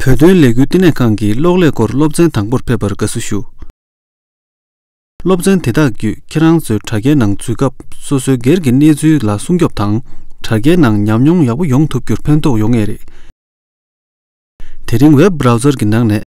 བོད་དོན་ལས་འགུལ་བསྟི་གནས་ཁང་གི་གློག་ཀླད་སྐོར་སློབ་ཚན་དང་པོར་ཕེབས་པར་དགའ་བསུ་ཞུ། སློབ་ཚན་དེ་དག་བརྒྱུད་ཁྱེད་རང་ཚོའི་དྲ་རྒྱའི་ནང་འཛུལ་སྐབས་སོ་སོའི་སྒེར་གྱི་གནས་ཚུལ་ལ་སྲུང་སྐྱོབ་དང། དྲ་རྒྱའི་ནང་ཉམས་མྱོང་ཡག་པོ་ཡོང་ཐུབ་རྒྱུར་ཕན་ཐོགས་ཡོང་ངེས་རེད། དེ་རིང Web Browser གྱི་ནང་ནས་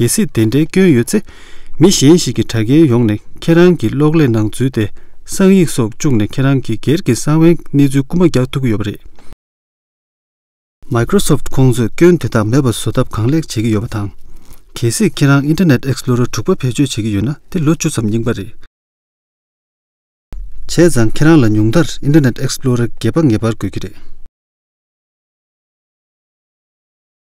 གལ་སྲིད་དེ་འདྲའི་སྐྱོན་ཡོད་ཚེ། མི་གཞན་ཞིག་གིས་དྲ་རྒྱའི་ཡོང་ནས་ཁྱེད་རང་གི་གློག་ཀླད་ནང་འཛུལ་ཏེ་གསང་ཡིག་སོགས་བཅུག་ནས་ཁྱེད་རང་གི་སྒེར་གྱི་གསང་བའི་གནས་ཚུལ་རྐུ་མ་རྒྱག་ཐུབ་ཀྱི་ཡོད་པ་རེད། Microsoft ཁོང་ཚོས་སྐྱོན་དེ་དག་མེད་པ་བཟོ་ཐབས་གང་ལེགས་བྱེད་ཀྱི་ཡོད་པ་དང། གལ་སྲིད་ཁྱེད་རང Internet Explorer དྲུག་པ་བེད་སྤྱོད་བྱེད་ཀྱི་ཡོད་ན་དེ་ལོ་བཅུ་ཙམ་རྙིང་པ་རེད། བྱས་ཙང་ཁྱེད་རང་ལ་ཉུང་མཐར Internet Explorer བརྒྱད་པ་ངེས་པར་དགོས་ཀྱི་རེད།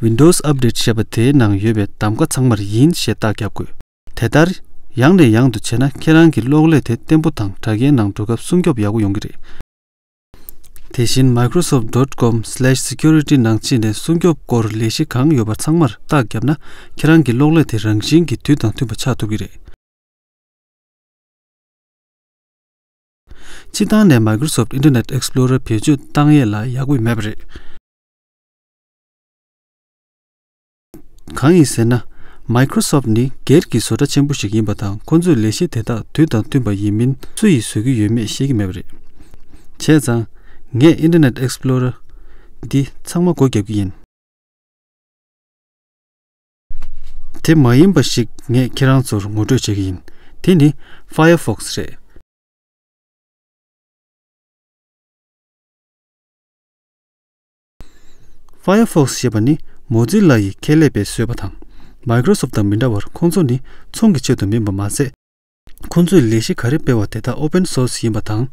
Windows Update ཞེས་པ་དེའི་ནང་ཡོད་པའི་གདམ་ཀ་ཚང་མར་ཡིན་ཞེས་རྟགས་བརྒྱབ་དགོས། དེ་ལྟར། ཡང་ནས་ཡང་དུ་བྱས་ན་ཁྱེད་རང་གི་གློག་ཀླད་དེ་བརྟན་པོ་དང་དྲ་རྒྱའི་ནང་འགྲོ་སྐབས་སྲུང་སྐྱོབ་ཡག་པོ་ཡོང་གི་རེད། དེ་བཞིན Microsoft dot com slash security ནང་ཕྱིན་ནས་སྲུང་སྐྱོབ་སྐོར་ལས་གཞི་གང་ཡོད་པ་ཚང་མར་རྟགས་བརྒྱབ་ན་ཁྱེད་རང་གི་གློག་ཀླད་དེ་རང་བཞིན་གྱིས་དུས་དང་མཐུན་པ་ཆགས་ཐུབ་ཀྱི་རེད། ཕྱི་ཐང་ནས Microsoft Internet Explorer བེད་སྤྱོད་བཏང་ཡས་ལ་ཡག་པོ་མེད་པ་རེད། གང་ཡིན་ཟེར་ན། Microsoft ནི་སྒེར་གྱི་བཟོ་གྲྭ་ཆེན་པོ་ཞིག་ཡིན་པ་དང་ཁོ་ཚོས་ལས་གཞི་དེ་དག་དུས་དང་བསྟུན་པ་ཡིན་མིན་སུ་ཡིས་བཟོས་ཀྱི་ཡོད་མེད་ཤེས་ཀྱི་མེད་པ་རེད། བྱས་ཙང། ངས Internet Explorer། འདི་ཚང་མ་སྒོ་རྒྱབ་ཀྱི་ཡིན། དེ་མ་ཡིན་པ་ཞིག་ངས་ཁྱེད་རང་ཚོར་ངོ་སྤྲོད་བྱེད་ཀྱི་ཡིན། དེ་ནི Firefox རེད། Firefox ཞེས་པ་ནི Mozilla ཡི་ཁེ་ལས་པས་བཟོས་པ་དང Microsoft དང་མི་འདྲ་བར་ཁོང་ཚོ་ནི་ཚོང་གི་ཆེད་དུ་མིན་པ་མ་ཟད། ཁོང་ཚོས་ལས་གཞི་ག་རེ་སྤེལ་བ་དེ་དག Open Source ཡིན་པ་དང།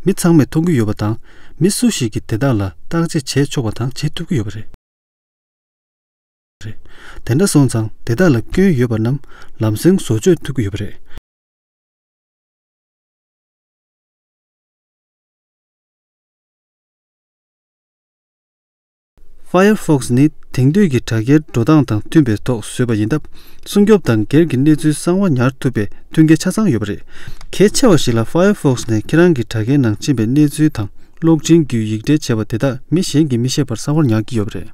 མི་ཚང་མས་མཐོང་གི་ཡོད་པ་དང་མི་སུ་ཞིག་གིས་དེ་དག་ལ་བརྟག་དཔྱད་བྱས་ཆོག་པ་དང་བྱེད་ཐུབ་ཀྱི་ཡོད་པ་རེད། དེ་འདྲ་སོང་ཙང་དེ་དག་ལ་སྐྱོན་ཡོད་པ་རྣམས་ལམ་སེང་བཟོ་བཅོས་ཐུབ་ཀྱི་ཡོད་པ་རེད། Firefox ནི་དེང་དུས་ཀྱི་དྲ་རྒྱའི་འགྲོ་སྟངས་དང་མཐུན་པའི་ཐོག་བཟོས་པ་ཡིན་སྟབས་སྲུང་སྐྱོབ་དང་སྒེར་གྱི་གནས་ཚུལ་གསང་བ་ཉར་ཐུབ་པའི་མཐུན་རྐྱེན་ཆ་ཚང་ཡོད་པ་རེད། གལ་ཆེ་བ་ཞིག་ལ Firefox ནས་ཁྱེད་རང་གི་དྲ་རྒྱའི་ནང་མཆིས་པའི་གནས་ཚུལ་དང་གློག་འཕྲིན་བརྒྱུད་ཡིག་འབྲེལ་བྱས་པ་དེ་དག་མི་གཞན་གྱིས་མི་ཤེས་པར་གསང་བར་ཉར་གྱི་ཡོད་པ་རེད།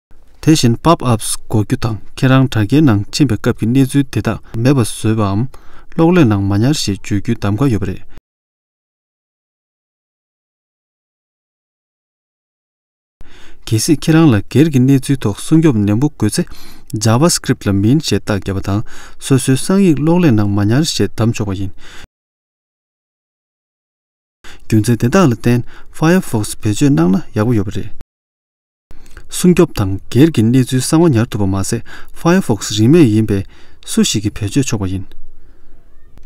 དེ་བཞིན Pop Ups འགོ་རྒྱུ་དང་ཁྱེད་རང་དྲ་རྒྱའི་ནང་ཕྱིན་པའི་སྐབས་ཀྱི་གནས་ཚུལ་དེ་དག་མེད་པ་བཟོས་པའམ། གློག་ཀླད་ནང་མ་ཉར་ཞེས་བརྗོད་རྒྱུའི་གདམ་ག་ཡོད་པ་རེད། གལ་སྲིད་ཁྱེད་རང་ལ་སྒེར་གྱི་གནས་ཚུལ་ཐོག་སྲུང་སྐྱོབ་ནན་པོ་དགོས་ཚེ། JavaScript ལ་མིན་ཞེས་རྟགས་བརྒྱབ་པ་དང་སོ་སོའི་གསང་ཡིག་གློག་ཀླད་ནང་མ་ཉར་ཞེས་གདམ་ཆོག་པ་ཡིན། རྒྱུ་མཚན་དེ་དག་ལ་བརྟེན Firefox བེད་སྤྱོད་གནང་ན་ཡག་པོ་ཡོད་པ་རེད། སྲུང་སྐྱོབ་དང་སྒེར་གྱི་གནས་ཚུལ་གསང་བ་ཉར་ཐུབ་པ་མ་ཟད Firefox རིན་མེད་ཡིན་པས་སུ་ཞིག་གིས་བེད་སྤྱོད་ཆོག་པ་ཡིན།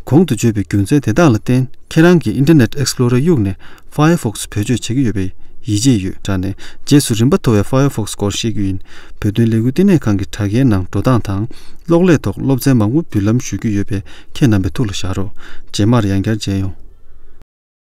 གོང་དུ་བརྗོད་པའི་རྒྱུ་མཚན་དེ་དག་ལ་བརྟེན་ཁྱེད་རང་གིས Internet Explorer གཡུག་ནས Firefox བེད་སྤྱོད་བྱེད་ཀྱི་ཡོད་པའི་ཡིད་ཆེས་ཡོད། དྲ་ནས་རྗེས་སུ་རིམ་པ་མཐོ་བའི Firefox སྐོར་བཤད་རྒྱུ་ཡིན། བོད་དོན་ལས་འགུལ་ལྟེ་གནས་ཁང་གི་དྲ་རྒྱའི་ནང་འགྲོ་སྟངས་དང་གློག་ཀླད་ཐོག་སློབ་ཚན་མང་པོ་འབུལ་ལམ་ཞུ་རྒྱུ་ཡོད་པས་ཁྱེད་རྣམ་པའི་ཐུགས་ལ་བཞག་རོགས་རྗེས་མར་ཡང་བསྐྱར་མཇལ་ཡོང།